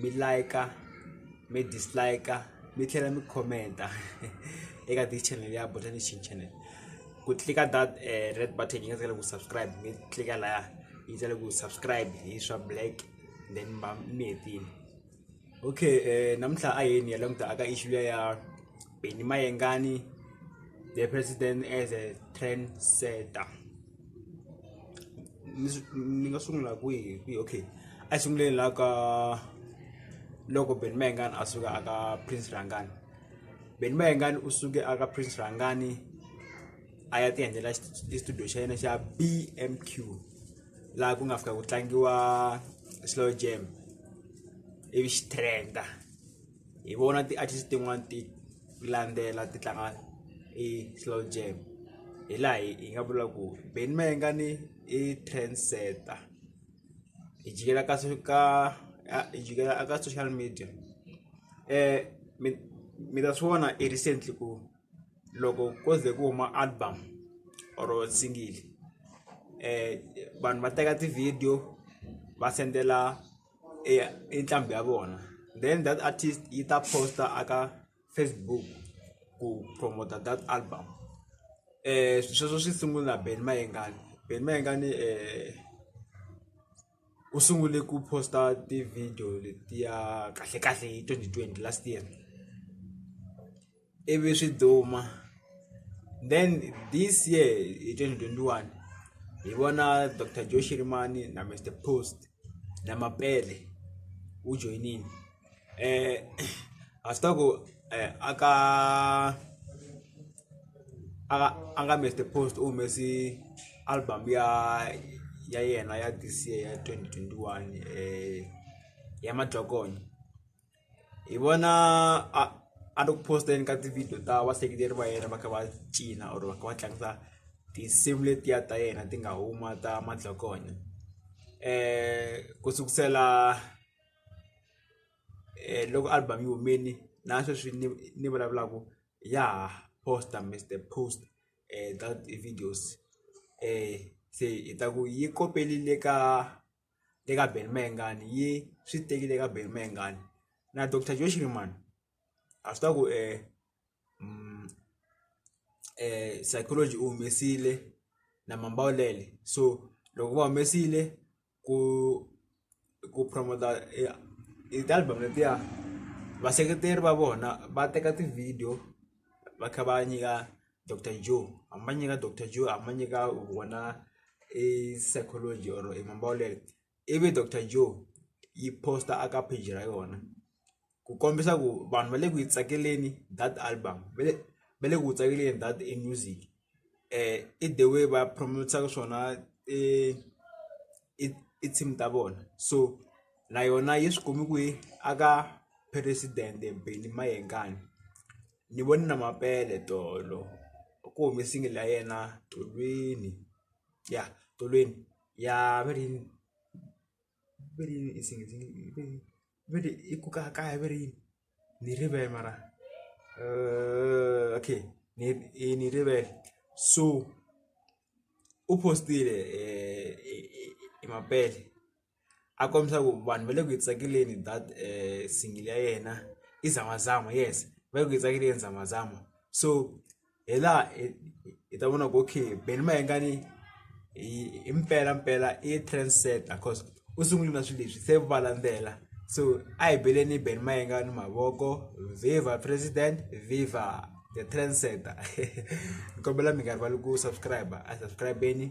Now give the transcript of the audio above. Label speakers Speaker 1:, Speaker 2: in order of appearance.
Speaker 1: mi like-a mi dislike-a mi tlhela mi comment-a eka this channel ya bota nation channel ku tlika that eh, red button yi nga tsakela ku subscribe mi tlika laya yi tsakela ku subscribe hi swa black then mi hetile okay um namuntlha a yeni ya languta aka issue ya Benny Mayengani, the president as a trendsetter. Ni nga sungula kwihi kwihi okay a sunguleni la ka loko Benny Mayengani a suka aka Prince Rangani. Benny Mayengani u suke aka Prince Rangani a ya tiendlela studio xa yena xa BMQ laha ku nga fika ku tlangiwa slow jam ivi xi trenda. hi vona ti-artist tin'wani ti landzela ti tlanga i slow jam hi laha hi hi nga vula ku Benny Mayengani i trend setter hi jikela ka ka hi jikela a ka social media mi mi ta swi vona i recently ku loko ko ze ku huma album or single vanhu va teka ti-video va sendela eya i nqambi ya vona then that artist yi ta post a ka Facebook ku promote that album swi sweswo swi sungula Benny Mayengani Benny Mayengani u sungule ku post-a ti-video letiya kahlekahle hi twenty twenty last year. ivi swi duma then this year hi twenty twenty one hi vona doctor Joe Shirimani na Mister Post na Mapele wu joyinile a swi ta ku a ka a a nga Mister Post u humesi album ya ya yena ya this year ya twenty twenty one ya madzogonyo. hi vona a a ri ku post-eni ka ti-video ta vaseketeri va yena va kha va cina or va kha va tlangisa tinsimu letiya ta yena ti nga huma ta madlokonya um ku sukusela um loko album yi humini na sweswi ni ni vulavulaku ya ha posta mr post um ka ti-videos um se hi ta ku yi kopelile ka le ka Benny Mayengani yi swi tekile ka Benny Mayengani na Doctor Joe Shirimani a swi tiva ku psychology u humesile na Mambawulele so loko va humesile ku ku promote i ti-album letiya vaseketeri va vona va teka ti-video va kha va nyika. jo a ma ɲɛ ka jo a man ɲɛ ka wɔna e sɛgɛn jɔyɔrɔ ye manbaw la dɛ e bɛ jo yi post a ka pejira yona kukombisa ku vanhu va le ku yi tsakeleni that album va le va le ku tsakeleni that i music i the way va promote-aka swona i. i i team ta vona so na yona yi swi kumi ku yi a ka president Benny Mayengani ni vone na Mapele tolo ku humi single ya yena tolweni ya tolweni ya va ri yini va ri yini i single . va ri i ku ka kaya va ri yini ni rivele mara okay ni i ni rivele so u post-ile hi mapele a kombisa ku vanhu va le ku yi tsakeleni that single ya yena i zamazama yes va le ku yi tsakeleni zamazama so. hi laha hi ta vona ku okay Benny Mayengani i mpela mpela i trend setter cause u sungule na swilo leswi se va landzela so a hi beleni Benny Mayengani mavoko viva president viva the trend setter ni kombela mi nga rivali ku subscribe a subscribe-eni